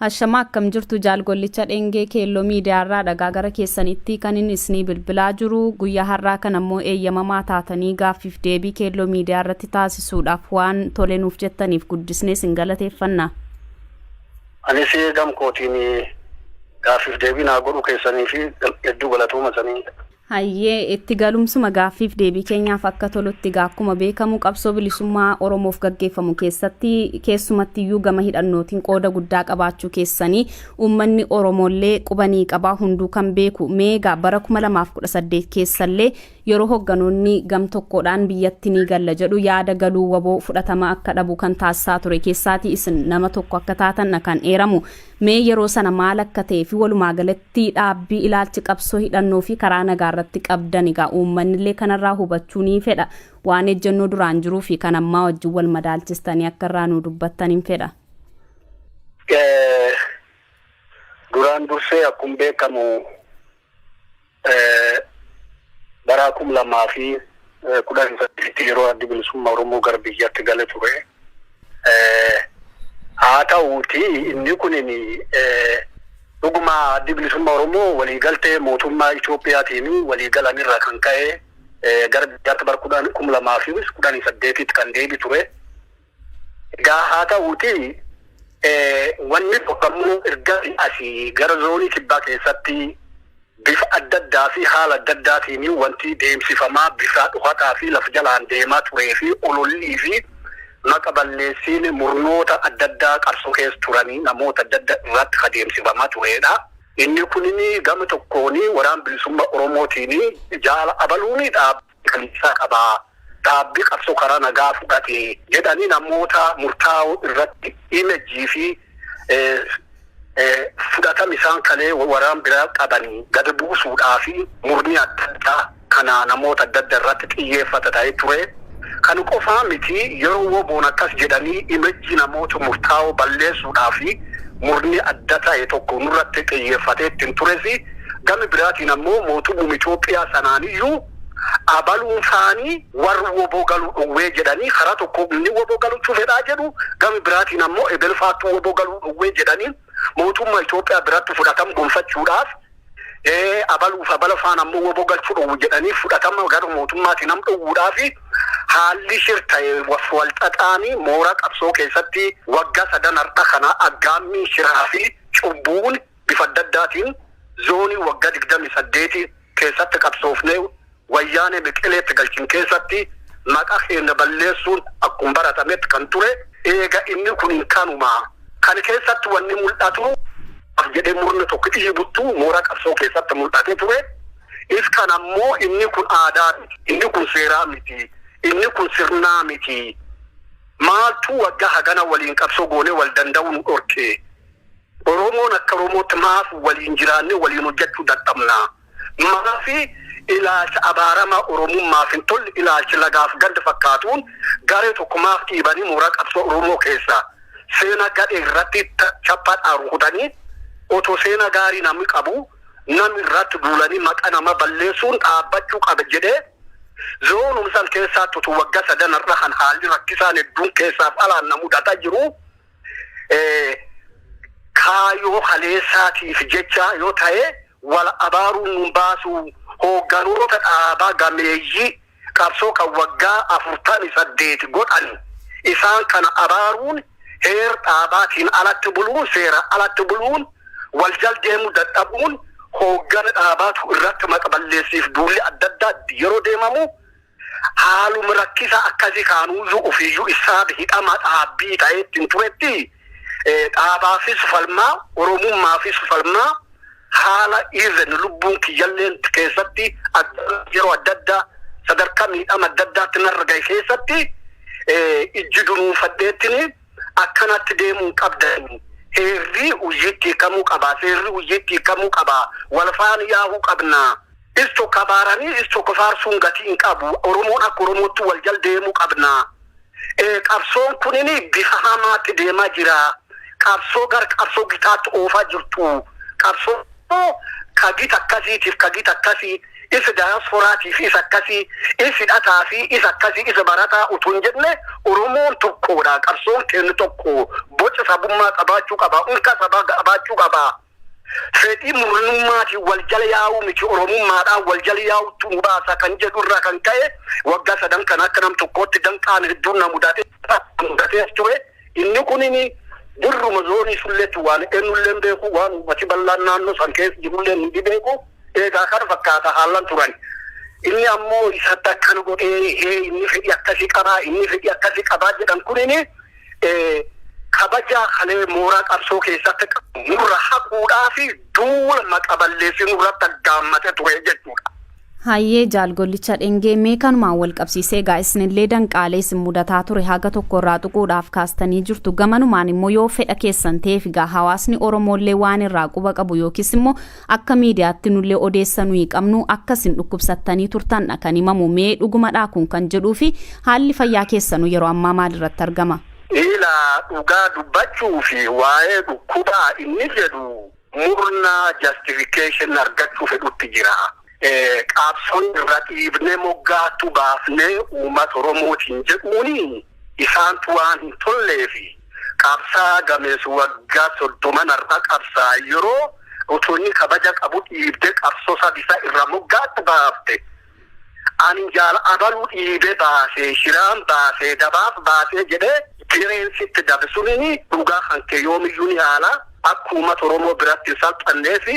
Hashama akkam jirtu jaal gollicha dhengee keelloo miidiyaarraa dhagaa gara keessanitti kanin isnii bilbilaa jiru guyyaa har'aa kan ammoo eeyyamamaa taatanii gaaffiif deebii keelloo miidiyaa irratti taasisuudhaaf waan tole nuuf jettaniif guddisnee isin galateeffanna. Anis gam kootiin gaaffiif deebii naa godhuu keessanii fi hedduu galatooma sanii. Hayyee, itti galumsuma gaaffiif deebii keenyaaf akka tolutti egaa akkuma beekamu qabsoo bilisummaa Oromoof gaggeeffamu keessatti keessumattiyyuu gama hidhannootiin qooda guddaa qabaachuu keessanii uummanni Oromoollee quba ni qaba, hunduu kan beeku. Mee egaa bara 2018 keessallee yeroo hogganoonni gam tokkoodhaan biyyatti ni galla jedhu yaada galuu wbo fudhatama akka dhabu kan taasisaa ture keessaatii isin nama tokko akka taatandha kan eeramu. Mee yeroo sana maal akka ta'ee fi walumaa galatti dhaabbii ilaalchi qabsoo hidhannoo fi karaa nagaa irratti qabdan egaa uummanni illee kanarraa hubachuu ni fedha. Waan ejjennoo duraan jiruu fi kan ammaa wajjin wal madaalchistanii akka irraa nuu dubbattanin fedha. Duraan dursee akkuma beekamu Bara 2018tti yeroo Addi Bilisummaa Oromoo gara biyyatti gale ture. Haa ta'uutii inni kun dhuguma Addi Bilisummaa Oromoo waliigaltee mootummaa Itoophiyaatiin waliigalan irraa kan ka'e gara biyyaatti bara 2018tti kan deebi ture. Egaa haa ta'uutii wanni tokko ammoo ergasii asii gara zoonii kibbaa keessatti bifa adda addaa fi haala adda addaatiin wanti deemsifamaa bifa dhokataa fi lafa jalaan deemaa turee fi olollii fi maqa balleessiin murnoota adda addaa qabsoo keessa turanii namoota adda adda irratti ka deemsifamaa tureedha. Inni kunin gama tokkoon waraan bilisummaa Oromootiin jaala abaluu ni dhaaba. galiinsaa qaba, dhaabbii qabsoo karaa nagaa fudhate jedhanii namoota murtaa'oo irratti image fi fudhatama isaan kalee waraan biraa qabani gad buusuudhaafi murni adda addaa kana namoota adda adda irratti xiyyeeffata ta'ee ture. Kan qofaa miti yeroo woboon akkas jedhanii image namoota murtaa'oo balleessuudhaafi murni adda ta'e tokko nurratti xiyyeeffatee ittin turesi Gami biraatiin ammoo mootummuma Itoophiyaa sanaaniyyuu abaluun saanii warri wbo galuu dhowwee jedhanii karaa tokko inni wbo galuchuu fedhaa jedhu gami biraatiin ammoo ebel faattu wbo galuu dhowwee jedhanii mootumma Itoophiyaa biratti fudhatam gonfachuudhaaf abaluuf abala faan ammoo wbo galchu dhowwu jedhanii fudhatama gara mootummaati nam dhowwuudhaafi haalli shir ta'e wal xaxaanii moora qabsoo keessatti wagga sadan har'a kana aggaammii shiraa fi cubbuun bifa adda addaatiin zoonii wagga 28 keessatti qabsoofnee wayyaanee meqeleetti galchin keessatti maqa keenna balleessuun akkum baratametti kan ture eega inni kun hin kanuma kan keessatti wanni mul'atu af jedhee murna tokko dhiibuttu moora qabsoo keessatti mul'ate ture is kan ammoo inni kun aadaa miti inni kun seeraa miti inni kun sirnaa miti maaltu wagga hagana waliin qabsoo goonee wal danda'uu nu dhorke Oromoon akka Oromootti maaf waliin jiraannee waliin hojjachuu dadhabna? Maafi ilaalcha abaaramaa Oromummaaf hin tolle ilaalchi lagaaf ganda fakkaatuun garee tokko maaf dhiibanii mooraa qabsoo Oromoo keessa seena gadhee irratti chappa dhaan rukutanii otoo seena gaarii namni qabu nam irratti duulanii maqa nama balleessuun dhaabbachuu qaba jedhee zoonum san keessaatti utuu wagga sadan har'a kan haalli rakkisaan hedduun keessaaf alaan na mudataa jiruu kaayoo kaleessaatiif jecha yoo ta'e wal abaaruun nun baasuu hoogganoota dhaabaa gameeyyii qabsoo kan waggaa 48 godhan isaan kana abaaruun heer dhaabaatiin alatti buluun seera alatti buluun wal jaldeemu dadhabuun hooggana dhaabaatu irratti maqballeessiif duulli adda addaa yeroo deemamu haalum rakkisa akkasi kaanuuzuu ufiiyyuu issaaf hidhama dhaabbii ta'ee ittin turetti dhaabaafis falmaa oromummaafis falmaa haala even lubbuun kiyyalleen keessatti yeroo adda addaa sadarkaa miidhama adda addaatti narra gahe keessatti ijji dunuunfadheettini akkanatti deemuun qabdanii heerri hujjiitti hiikamuu qabaa seerri hujjiitti hiikamuu qabaa walfaan yaa'uu qabnaa Is tokko abaaranii is tokko faarsuun gatii hin qabu. Oromoon akka Oromootti wal jal deemuu qabna. Eh, Qabsoon kunini bifa hamaatti deemaa jira. Qabsoo gara qabsoo gitaatti oofaa jirtu. Qabsoo ka gita akkasiitiif ka gita akkasii isa daayasporaatiif isa akkasii isa hidhataa fi isa akkasii isa barataa utuu hin jenne Oromoon tokkoodha. Qabsoon keenya tokko boca sabummaa qabaachuu qaba. Unka sabaa qabaachuu qaba. fedhii murnummaatiin wal jala yaa'uu miti Oromummaadhaan wal jala yaa'uutu nu baasa kan jedhu irraa kan ka'e waggaa sadan kana akka nam tokkootti danqaan hedduun na mudate mudatees ture. Inni kunini dirruma zoonii sulleetti waan eenyullee hin beeku waan uummati bal'aan naannoo san keessa jirullee ni beeku eegaa kana fakkaata haalan turan. Inni ammoo isatti akkana godhee hee inni fedhii akkasii qabaa inni fedhii akkasii qabaa jedhan kunini kabaja kalee mooraa qabsoo keessatti qabu nurra haquudhaa fi duula maqa balleessi nurratti aggaammate ture jechuudha. Hayyee jaal gollicha dhengee mee kanumaan wal qabsiisee egaa isinillee danqaalee isin mudataa ture haga tokko irraa tuquudhaaf kaastanii jirtu gamanumaan immoo yoo fedha keessan ta'eef egaa hawaasni oromoollee waan irraa quba qabu yookiis immoo Akka miidiyaatti nullee odeessa nuyi qabnu akka isin dhukkubsattanii turtandha kan himamu mee dhugumadhaa kun kan jedhuu fi haalli fayyaa keessanu yeroo ammaa maalirratti argama? Ilaa dhugaa dubbachuuf waa'ee dhukkubaa inni jedhu murna justification argachuu fedhutti jira. Qaabsoo irra dhiibnee moggaattu baafnee uummata Oromootiin jedhuun isaantu waan hin tolleef qabsaa'aa gameessi waggaa soddoman har'a qabsaa'e yeroo utuu inni kabaja qabu dhiibdee qabsoo sabisaa irra moggaatti baafte ani jaal abaluu dhiibee baasee shiraan baasee dabaaf baasee jedhee direen sitti dabsuun dhugaa kan kee yoomiyyuu ni haala akka uummata Oromoo biratti hin salphanneefi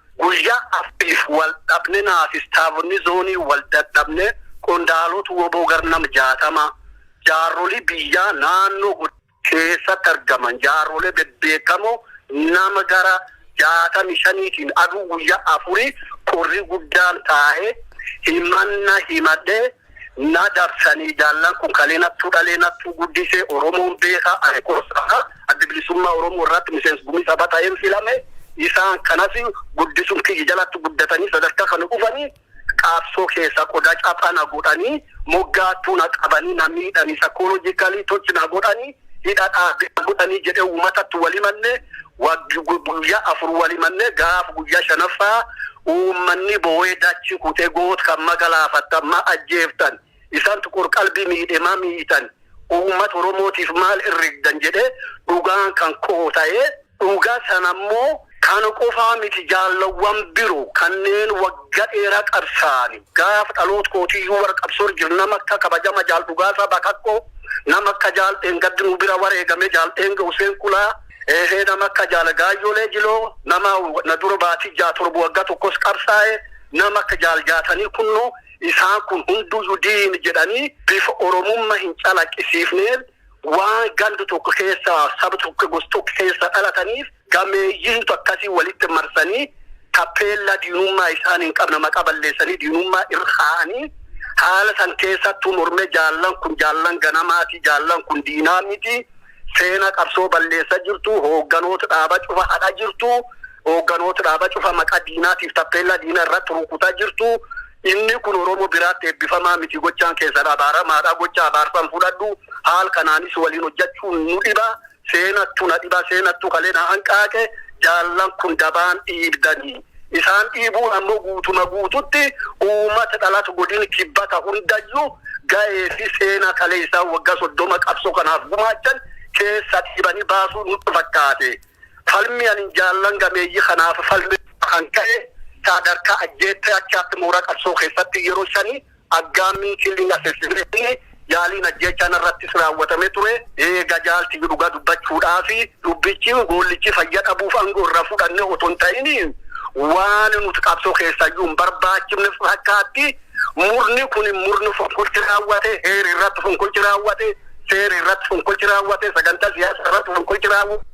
Guyyaa afriif wal dhabne naafis taabonni zoonii wal dadhabne qondaaloot wbo gar nam 60 jaarrolii biyyaa naannoo godina. keessatti argaman jaarrolee bebbeekamoo nama gara 65tiin aduu guyyaa afurii qorrii guddaan taa'ee himanna himadhee Na dabsanii jaallan kun kalee nattuu dhalee nattuu guddisee oromoon beeka ani kossaa addi bilisummaa oromoo irraatti miseensa gumii sabaa ta'een filame isaan kanas guddisuun kiyya jalaatti guddatanii sadarkaa kana dhufanii qabsoo keessaa qodaa caphaa na godhanii moggaattuu na qabanii na miidhanii sakoolojikaalii tochi na godhanii hidha dhaabbicha godhanii jedhee uumatatti wal himanne guyyaa afur wal himanne gaaf guyyaa shanaffaa uummanni boo'ee dachi kutee goot kan magalaafattan ma ajjeeftan isantu qorqalbii miidhe ma miitan uummata oromootiif maal irrigdan jedhee dhugaan kan koo ta'ee Dhuga sana immo kana qofaa miti jaallawwan biro kanneen wagga dheera qabsaa'ani gaaf dhaloot kootii iyyuu warra qabsoor jir nama akka kabajama jaal Dhugaasaa Bakakko nama akka jaal Dheengaddi nu bira wareegame jaal Dheenge Huseen Kulaa eehee nama akka jaal Gaayyolee Jiloo nama na dura baatii ja'a torba wagga tokkos qabsaa'e nama akka jaal Jaatanii Kunnoo isaan kun hunduuyyu diin jedhanii bifa oromumma hin calaqisiifneen Waan gandi tokko keessa, saba tokko yookiin gosa tokko keessa dhalataniif gameeyyiintu akkasii walitti marsanii tappeellaa diinummaa isaan hin qabne maqaa balleessanii diinummaa irra kaa'anii haala san keessattuu mormee jaallan kun jaallan ganamaati, jaallan kun diinaa miti, seenaa qabsoo balleessaa jirtu, hoogganoota dhaabaa cufa hadhaa jirtu, Hoogganoota dhaaba cufa maqaa diinaatiif tappeellaa diina irratti rukutaa jirtu. Inni kun Oromoo biraatti eebbifamaa miti. Gochaan keessan abaaramaadha. Gocha abaarsan fudhadhu. Haal kanaanis waliin hojjachuun nu dhiba. Seenattu na dhiba. Seenattu kalee na hanqaaqe. Jaallan kun dabaan dhiibdanii. Isaan dhiibuun ammoo guutuma guututti uummata dhalatu godin kibbata hundayyuu gahee fi seenaa kalee isaan waggaa soddoma qabsoo kanaaf gumaachan keessa dhiibanii baasuu nutti fakkaate. Falmii ani jaallan gameeyyi kanaaf falme irraa kan ka'e saadarkaa ajjeettee achaatti moora qabsoo keessatti yeroo shani aggaammiin, killing assassination, yaaliin ajjeechaa narrattis raawwatame ture. Eega jaal tiyyu dhuga dubbachuudhaaf dubbichi goollichi fayya dhabuuf ango irra fudhanne oto hin ta'in waan nut qabsoo keessayyuu hin barbaachifne fakkaatti. Murni kun murni fonqolchi raawwate, heeri irratti fonqolchi raawwate, seeri irratti fonqolchi raawwate, sagantaa siyaasa irratti fonqolchi raawwate.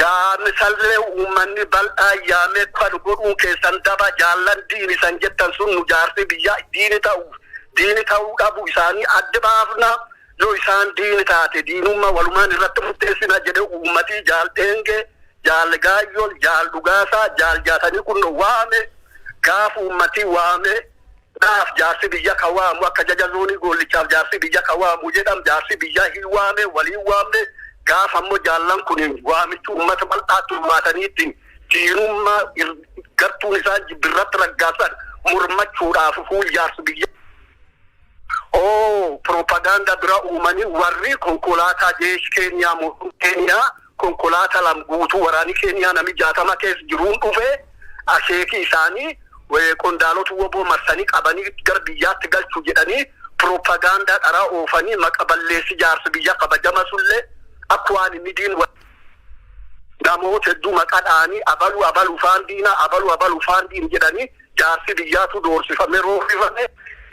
Yaami sallee uummanni bal'aan yaamee kalu godhuun keessan daba, jaallan diini isan jettan sun nu jaarsii biyyaa diini ta'uuf diini ta'uu dhabu isaanii adda baafna. Yoo isaan diini taate diinumma walumaan irratti murteessina jedhe uummatii Jaal Dheengee, Jaal Gaayyoo, Jaal Dhugaasaa, Jaal Jaatanii kunno waame. Gaafa uummatii waame naaf jaarsi biyya ka waamu akka jaja zoonii Goollichaaf jaarsi biyya ka waamu jedham jaarsi biyyaa hin waame waliin waamne. Gaafa ammoo jaallan kun waamichi uummata bal'aatti uummaataniitti diinumma gartuun isaan jibbi irratti raggaasan mormachuudhaaf fuul jaarsi biyyaa. Ooh propaganda bira uumani warri konkolaataa jeesh keenyaa motum keenyaa konkolaata lam guutuu waraani keenyaa nami 60 kees jiruun dhufe akeeki isaani qondaalota wbo marsani qabani gar biyyaatti galchu jedhani propaganda dhara oofani maqa balleessi jaarsa biyya kabajama sulle akk waan inni diin namoota hedduu maqa dhaani abalu abalu faan diina abalu abalu faan diin jedhani jaarsi biyyaatuu doorsifame roorrifame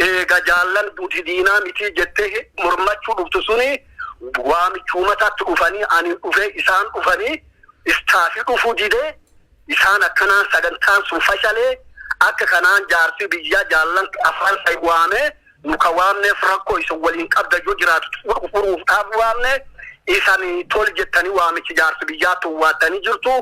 eega jaallan duti diinaa mitii jettee mormachuu dhuftu suni waamichuu mataatti dhufanii ani dhufee isaan dhufanii istaafi dhufuu didee isaan akkanaan sagantaan sun fashalee akka kanaan jaarsi biyyaa jaallan afaan sai waamee Nu ka waamneef rakko isin waliin qabda yoo jiraatu xumur furuuf dhaaf waamne. Isan tol jettani waamicha jaarsa biyyaa towwaattani jirtu.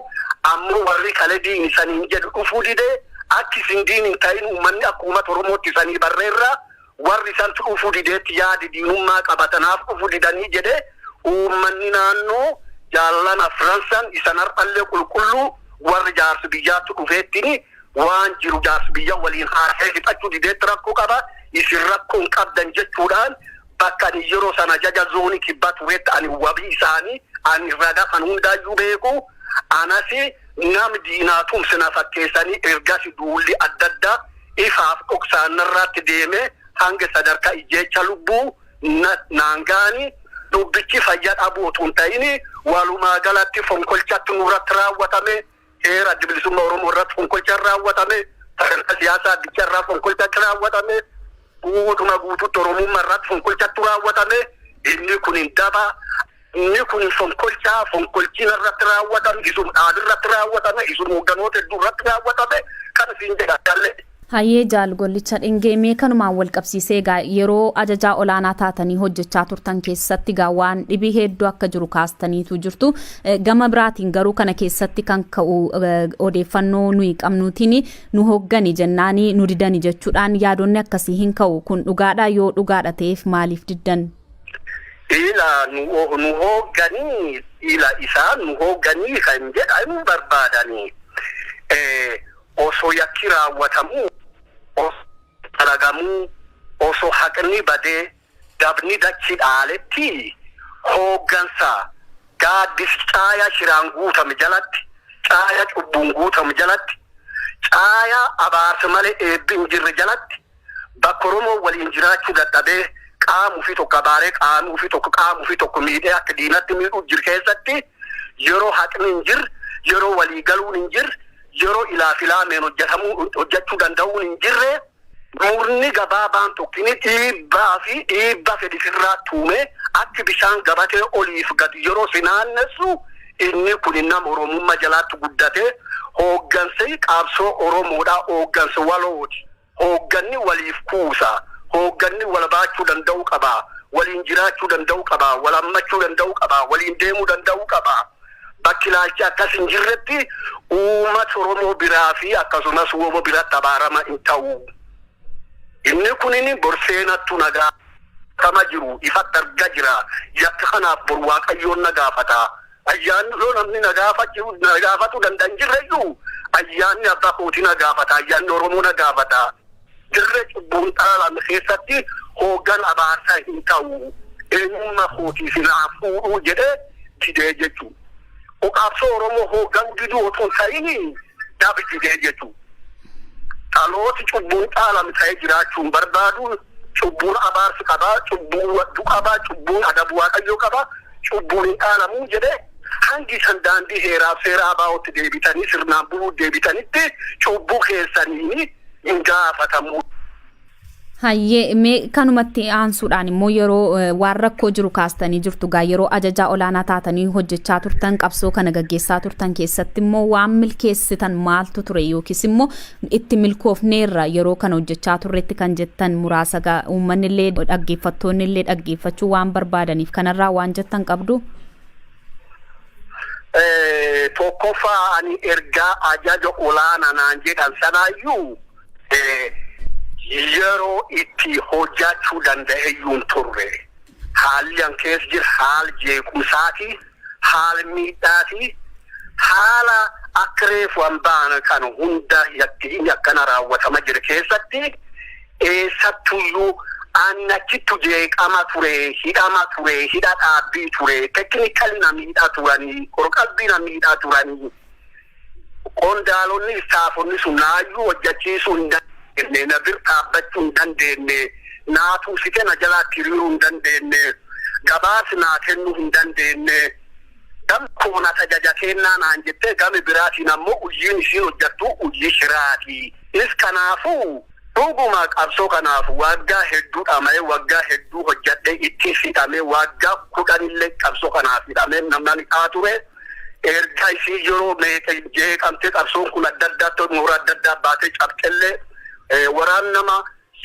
Ammo warri kale diin isaniin jedhu dhufuu dide. Akki isin diin hin ta'in ummanni akka ummata Oromootti isanii barreerra. Warri isantu dhufuu dideetti yaadi diinummaa qaba tanaaf dhufu didanii jedhe. Ummanni naanno jaallan afran san isan har'allee qulqulluu warri jaarsa biyyaattu dhufeettini. Waan jiru jaarsbiyya waliin haasa'ee fixachuu dideetti rakkoo qaba, isin rakkoo hin qabdan jechuudhaan bakka ani yeroo sana ajaja zoonii kibbaa tureetti ani wabii isaanii ani raga kan hundaayyuu beeku anasi nam diinaa tumse na fakkeessanii ergasi duulli adda addaa ifaaf dhoksaan narraatti deeme hanga sadarkaa ijjeecha lubbuu na naan ga'anii dubbichi fayya dhabuu otuu hin ta'ini walumaa galatti fonkolchatti nurratti raawwatame Heera Adda Bilisummaa Oromoo irratti fonqolchaan raawwatame, sagantaa siyaasaa addichaa irraa fonqolchaatti raawwatame, guutuma guutuutti Oromummaa irratti fonqolchattu raawwatame. Inni kun hin daba. Inni kun hin fonqolchaa. Fonqolchiin irratti raawwatame, isun dhaabirratti raawwatame, isun hoogganoota hedduu irratti raawwatame kan isin jedha. Kallee. Hayyee Jaal Gollicha Dhengee, mee kanumaan walqabsiisee egaa yeroo ajajaa olaanaa taatanii hojjechaa turtan keessatti egaa waan dhibii heedduu akka jiru kaastaniitu jirtu. Gama biraatiin garuu kana keessatti kan ka'u odeeffannoo nuyi qabnuutiin nu hoggani jennaanii nu didani jechuudhaan yaadonni akkasii hin ka'u. Kun dhugaadha yoo dhugaadha ta'eef maaliif diddan? Ila nu nu hoogganii ila isaan nu hoogganii kan jedhan barbaadanii osoo yakki raawwatamuu, osoo yakki dalagamuu, osoo haqni badee dabni dachi dhaaletti hooggansa gaaddis caaya shiraan guutame jalatti, caaya cubbuun guutame jalatti, caaya abaarsi malee eebbi hin jirre jalatti bakka Oromoon waliin jiraachuu dadhabee qaama ufii tokko abaaree qaamii ufii tokko qaama ufii tokko miidhee akka diinatti miidhuu jir keessatti yeroo haqni hin jir yeroo walii galuun hin jir yeroo ilaa filaameen hojjetamuu hojjechuu danda'uun hin jirre murni gabaabaan tokkini dhiibbaa fi dhiibba fedhi sirraa tuume akka bishaan gabatee oliif gad yeroo si naannessu inni kun nama Oromummaa jalaatti guddate hooggansi qaabsoo Oromoodhaa hooggansi walooti. Hoogganni waliif kuusa. Hoogganni wal baachuu danda'uu qaba. Waliin jiraachuu danda'uu qaba. Wal hammachuu danda'uu qaba. Waliin deemuu danda'uu qaba. Bakki ilaalchi akkas hin jirretti uumat Oromoo biraa fi akkasumas wbo biratti abaarama hin ta'u. Inni kunini bor seenattu na gaafata. Qabatama jiru ifatti arga jira. Yakka kanaaf bor Waaqayyoon na gaafata. Ayyaanni yoo namni na gaafachuu na gaafatu danda'a hin jirre iyyuu ayyaanni abbaa kootii na gaafata ayyaanni Oromoo na gaafata dirree cubbuun dhaalame keessatti hooggan abaarsa hin ta'u eenyumma kootii si naa fuudhuu jedhee didee jechuu o qabsoo Oromoo hooggan diduu otuu hin ta'ini dhabi didee jechuu dhalooti cubbuun dhaalame ta'ee jiraachuu hin barbaadu Cubbuun abaarsi qaba, cubbuun wadduu qaba, cubbuun adabu Waaqayyoo qaba, cubbuun hin dhaalamu jedhee hangi isan daandii heeraaf seera ABOtti deebitanii sirnaan buluu deebitanitti cubbuu keessaniin hin gaafatamu. Hayyee mee kanuma itti aansuudhaan immoo yeroo waan rakkoo jiru kaastanii jirtu gaa yeroo ajajaa olaanaa taatanii hojjechaa turtan qabsoo kana gaggeessaa turtan keessatti immoo waan milkeessitan maaltu ture yookiis immoo Itti milkoofneerra yeroo kana hojjechaa turretti kan jettan muraasaga uummanni illee dhaggeeffattoonni illee dhaggeeffachuu waan barbaadaniif kanarraa waan jettan qabdu? Tokkoffaa ani ergaa ajaja olaana naan jedhan sanaayyuu yeroo itti hojjachuu danda'eyyuu hin turre. Haalli an keessa jiru haal jeequmsaati. haal miidhaa fi haala akka reefu an baana kana hunda yakki inni akkana raawwatama jire keessatti eessattuyyuu an achittu jeeqama ture, hidhama ture, hidha dhaabbii ture, technically na miidha turanii, qorqalbii na miidha turanii. Qondaalonni istaafonni sun naayyuu hojjachiisuu hin dandeenne, na bir dhaabbachuu hin dandeenne, naa tumsite na jalaatti hiriiruu hin dandeenne, gabaas naa kennuu hin dandeenne. Gam koo na tajaja keennaa naan jettee gami biraatiin ammoo hujiin isiin hojjattu hujii shiraati. Is kanaafuu dhuguma qabsoo kanaaf waaggaa hedduu dhama'ee, waggaa hedduu hojjadhee, ittis hidhamee, waaggaa 10 illee qabsoo kanaaf hidhamee namnani aa ture. Erga isii yeroo meeqa jeeqamtee qabsoon kun adda addaatti moora adda addaa baatee cabxellee waraan nama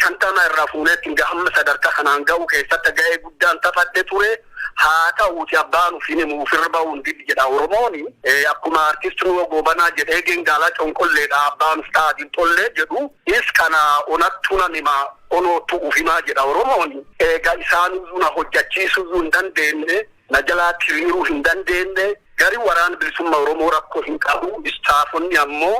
shantama irraa fuuneetti hanga hamma sadarkaa kanaan ga'uu keessatti ga'ee guddaan taphadhe ture. Haa ta'uuti abbaan ufiin himu ufirra ba'uun diddi jedha Oromooni. Akkuma artist Nuwoo Goobanaa jedhee gengaalaa conqolleedha abbaan uf ta'a dinxollee jedhu is kana onattu nan hima onoottu uf himaa jedha Oromooni. Eega isaanuyyuu na hojjachiisuyyuu hin dandeenne Na jalaa tiriiruu hin dandeenne. Gari Waraana Bilisumma Oromoo rakko hin qabu. Istaafonni ammo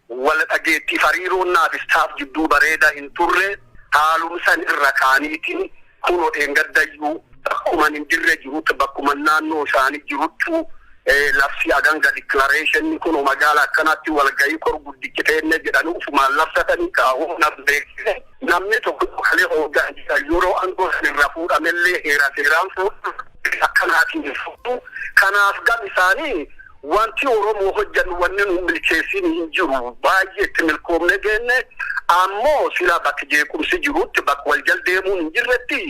wala dhageettiif hariiroon naaf staff jidduu bareeda hin turre. Haalum san irra kaaniiti kuno dheengaddayyu bakkuman hin jirre jirutt bakkuman naannoo isaani jiruttu labsii aganga declaration kuno magaala akkanaatti walgayii kor guddichi teenne jedhani ufumaan labsatani kaa humna beeksise. Namni tokko kalee hoggaan jiran yeroo angoo san irraa fuudhamellee heera seeraan fuudhuu bifa akkanaatiin hin fuudhu. Kanaaf gam isaanii wanti Oromoo hojjannu wanni nu hin milkeessiin hin jiru. Baay'ee itti milkoomnee geenne. Ammoo silaa bakka jeequmsi jirutti bakka wal jal deemuun hin jirretti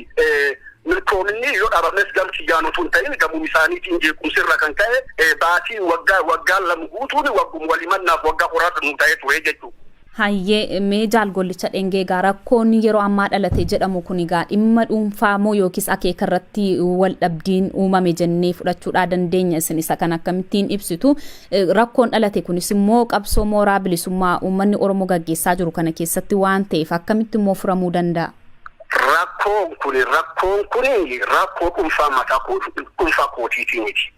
milkoominni yoo dhabames gam kiyyaan utuu hin ta'in gamum isaaniitiin jeequmsi irra kan ka'e baatii waggaa waggaan lama guutuun wagguma wal himannaaf waggaa qoraasa nuu ta'ee ture jechuudha. Hayyee, mee Jaal Gollicha Dhengee egaa rakkoon yeroo ammaa dhalate jedhamu kun egaa dhimma dhuunfaa moo yookiis akeeka irratti wal dhabdiin uumame jennee fudhachuudhaa dandeenya? Isin isa kana akkamittiin ibsitu? Rakkoon dhalate kunis immoo qabsoo mooraa bilisummaa uummanni Oromoo gaggeessaa jiru kana keessatti waan ta'eef akkamitti immoo furamuu danda'a? Rakkoon kun rakkoon kun rakkoo dhuunfaa mataa koo dhuunfaa kootiitii miti.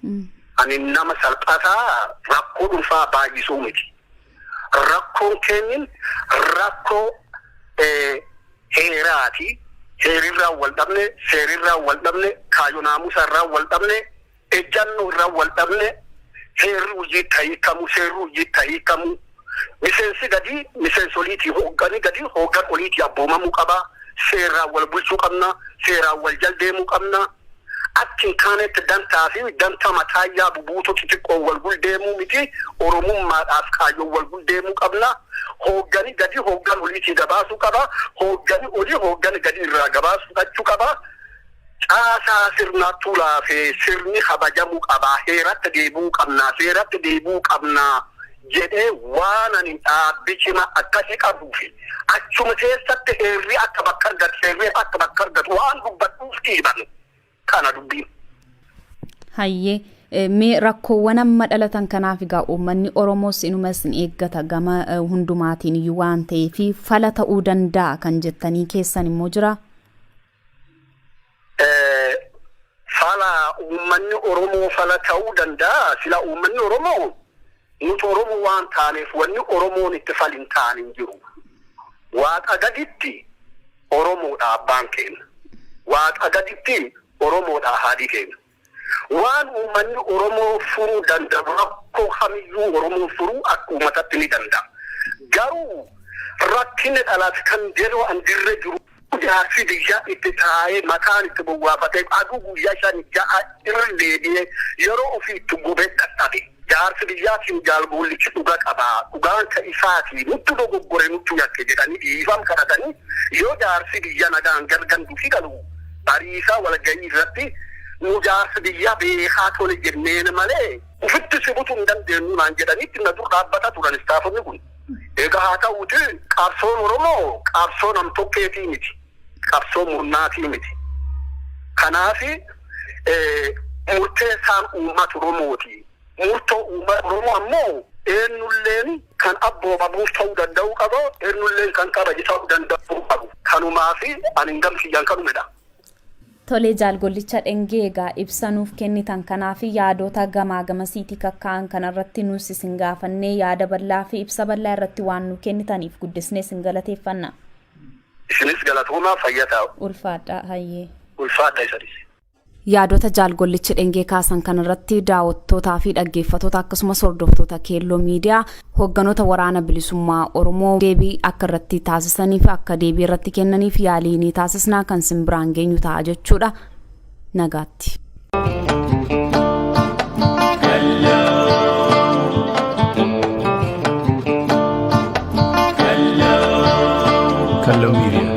Ani nama salphataa rakkoo dhuunfaa baay'isuu miti. Rakkoon keenyin rakkoo heeraati. Heerirraan wal dhabne, seerirraan wal dhabne, kaayyoo naamusaa irraan wal dhabne, ejjannoo irraan wal dhabne, heerri hujjiitti ha hiikkamu, seerri hujjiitti ha hiikkamu, miseensi gadii miseensa oliitii, hooggani gadii hooggan oliitii abboomamuu qaba, seerraan wal bulchuu qabna, seeraan wal jal deemuu qabna. akka hin taaneetti dantaa fi dantaa mataa yaabu buutoo xixiqqoon wal guldeemuu miti Oromummaadhaaf kaayyoon wal guldeemuu qabna. Hooggani gadi hooggan oliitii gabaasuu qaba. Hooggani olii hooggani gadi irraa gabaas fudhachuu qaba. Caasaa sirnaattuu laafee sirni kabajamuu qaba. Heeratti deebi'uu qabna. Seeratti deebi'uu qabna. jedhee waan ani dhaabbi cima akkasi qabuufi achuma keessatti heerri akka bakka argatu seerri akka bakka argatu waan dubbadhuuf dhiibame kana dubbiin. Hayyee eh, mee rakkoowwan amma dhalatan kanaaf egaa uummanni Oromoos inuma isin eeggata gama eh, hundumaatiin iyyuu waan ta'eef fala ta'uu danda'a kan jettanii keessan immoo jira. Fala uummanni Oromoo fala ta'uu danda'a? Sila uummanni Oromoo nuti Oromoo waan taaneef wanni Oromoon itti fal hin taane hin jiru. Waaqa gaditti Oromoodha abbaan keenya. Waaqa gaditti Oromoodha haadhi keenya. Waan uummanni Oromoo furuu danda'u rakkoo kamiyyuu Oromoon furuu akka uummatatti ni danda'a. Garuu rakkinni dhalate kan jedhu an dirre jiru. Jaarsi biyyaa itti taa'ee mataan itti gowwaafatee aduu guyyaa shan ja'a irra deebi'ee yeroo ofii itti gubee dadhabe. Jaarsi biyyaatiin Jaal Goollichi dhuga qaba, dhugaan ka isaati, nuttu dogoggore, nuttu yakke jedhanii dhiifam kadhatanii yoo jaarsi biyya nagaan gar gandufi galu Bariisaa walgayii irratti nu jaarsi biyyaa beekaa tole jenneen malee ufitti si butu hin dandeennu naan jedhanii itti na dur dhaabbata turan istaafonni kun. Egaa haa ta'uuti qabsoon Oromoo qabsoo nam tokkeetii miti. qabsoo murnaatii miti. Kanaaf murteessaan uummata Oromooti. Murtoo uummata Oromoo ammoo eennulleen kan abboomamuuf ta'uu danda'uu qaba, eennulleen kan kabaju ta'uu danda'uu qabu. Kanumaaf ani gam kiyyaan kanuma jedha. Tole Jaal Gollicha Dhengee egaa ibsa nuuf kennitan kanaaf yaadota gamaa gamasiitii kakkaa'an kanarratti nuus isin gaafannee yaada bal'aa fi ibsa bal'aa irratti waan nu kennitaniif guddisnee isin galateeffanna. Isinis galatoomaa fayya taa. Ulfaadhaa hayyee. Ulfaadha isa dhisi. Yaadota Jaal Gollichi Dhengee kaasan kanarratti daawwattootaa fi dhaggeeffatoota akkasumas hordoftoota Keelloo Miidiyaa hoogganoota Waraana Bilisummaa Oromoo deebii akka irratti taasisaniif akka deebii irratti kennaniif yaalii ni taasisna kan sin biraan geenyu ta'a jechuudha. nagaatti. Hello Media.